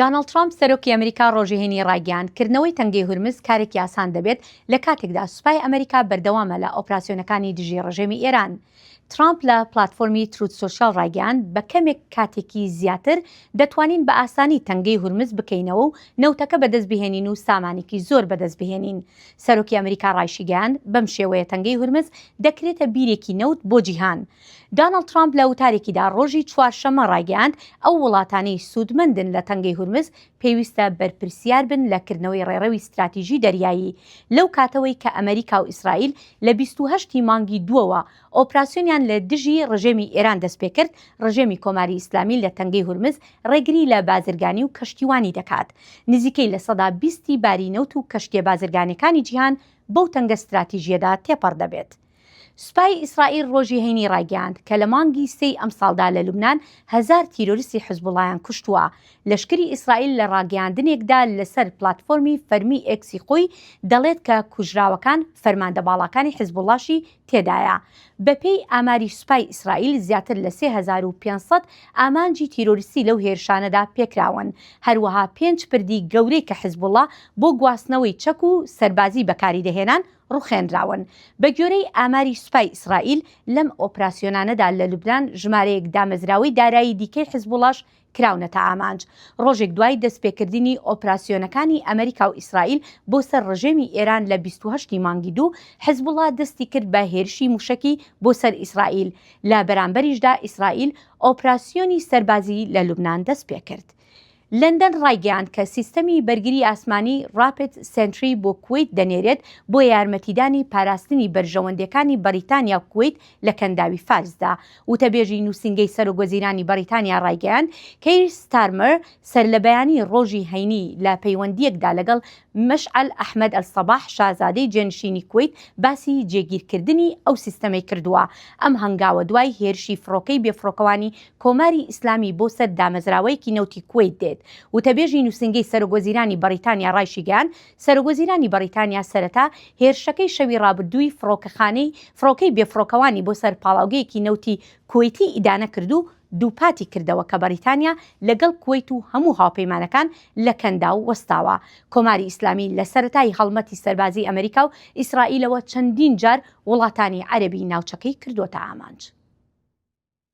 دانڵد ترامپ سەرۆکی ئەمریکا ڕۆژی هەینی ڕایگەیاند، کردنەوەی تەنگەی هورمز کارێکی ئاسان دەبێت لە کاتێکدا سوپای ئەمریکا بەردەوامە لە ئۆپراسیۆنەکانی دژی ڕژێمی ئێران. ترامپ لە پلاتفۆرمی تروت سۆشیال ڕایگەیاند، بە کەمێک کاتێکی زیاتر دەتوانین بە ئاسانی تەنگەی هورمز بکەینەوە و نەوتەکە بەدەست بهێنین و سامانێکی زۆر بەدەست بهێنین. سەرۆکی ئەمریکا ڕایشیگەیاند، بەم شێوەیە تەنگەی هورمز دەکرێتە بیرێکی نەوت بۆ جیهان. دانڵد ترامپ لە وتارێکیدا ڕۆژی چوارشەممە ڕایگەیاند، ئەو وڵاتانەی سوودمەندن لە تەنگەی هورمز پێویستە بەرپرسیار بن لە کردنەوەی ڕێڕەوی ستراتیژی دەریایی، لەو کاتەوەی کە ئەمەریکا و ئیسرائیل لە بیست و هەشت ی مانگی دووەوە ئۆپراسیۆنیان لە دژی ڕژێمی ئێران دەستپێکرد، ڕژێمی کۆماری ئیسلامی لە تەنگەی هورمز ڕێگری لە بازرگانی و کەشتیوانی دەکات، نزیکەی لە سەدا بیست ی باری نەوت و کەشتییە بازرگانیەکانی جیهان بەو تەنگە ستراتیژیەدا تێپەڕ دەبێت. سوپای ئیسرائیل ڕۆژی هەینی ڕایگەیاند کە لە مانگی سێی ئەمساڵدا لە لوبنان هەزار تیرۆریستی حزبوڵایان کوشتووە. لەشکری ئیسرائیل لە ڕاگەیاندنێکدا لەسەر پلاتفۆرمی فەرمی ئێکسی خۆی دەڵێت کە کوژراوەکان فەرماندە باڵاکانی حزبوڵاشی تێدایە. بەپێی ئاماری سوپای ئیسرائیل زیاتر لە سێ هەزار و پێنج سەد ئامانجی تیرۆریستی لەو هێرشانەدا پێکراون، هەروەها پێنج پردی گەورەی کە حزبوڵا بۆ گواستنەوەی چەک و سەربازی بەکاریدەهێنان ڕوخێنراون. بەگوێرەی ئاماری سوپای ئیسرائیل، لەم ئۆپراسیۆنانەدا لە لوبنان ژمارەیەک دامەزراوەی دارایی دیکەی حزبوڵاش کراونەتە ئامانج. ڕۆژێک دوای دەستپێکردنی ئۆپراسیۆنەکانی ئەمریکا و ئیسرائیل بۆ سەر ڕژێمی ئێران لە بیست و هەشت ی مانگی دوو، حزبوڵا دەستی کرد بە هێرشی موشەکی بۆ سەر ئیسرائیل، لە بەرامبەریشدا ئیسرائیل ئۆپراسیۆنی سەربازی لە لوبنان دەستپێکرد. لەندەن ڕایگەیاند کە سیستەمی بەرگری ئاسمانی ڕاپد سێنتری بۆ کوەیت دەنێرێت بۆ یارمەتیدانی پاراستنی بەرژەوەندیەکانی بەڕیتانیا و کوەیت لە کەنداوی فارسدا. وتەبێژی نوسینگەی سەرۆکوەزیرانی بەڕیتانیا ڕایگەیاند، کەیر ستارمەر سەرلەبەیانیی ڕۆژی هەینی لە پەیوەندییەکدا لەگەڵ مەشعەل ئەحمەد ئەلسەباح شازادەی جێنشینی کوەیت باسی جێگیرکردنی ئەو سیستەمەی کردووە. ئەم هەنگاوە دوای هێرشی فڕۆکەی بێفڕۆکەوانی کۆماری ئیسلامی بۆ سەر دامەزراوەیەکی نەوتی کوەیت دێت، وتەبێژی نووسینگەی سەرۆکوەزیرانی بەڕیتانیا ڕایشیگەیاند، سەرۆکوەزیرانی بەڕیتانیا سەرەتا هێرشەکەی شەوی ڕابردووی فڕۆکەخانەی فڕۆکەی بێفڕۆکەوانی بۆ سەر پاڵاوگەیەکی نەوتی کوەیتی ئیدانە کرد و دووپاتی کردەوە کە بەڕیتانیا لەگەڵ کوەیت و هەموو هاوپەیمانەکان لە کەنداو وەستاوە. کۆماری ئیسلامی لە سەرەتای هەڵمەتی سەربازیی ئەمریکا و ئیسرائیلەوە چەندین جار وڵاتانی عەرەبی ناوچەکەی کردووەتە ئامانج.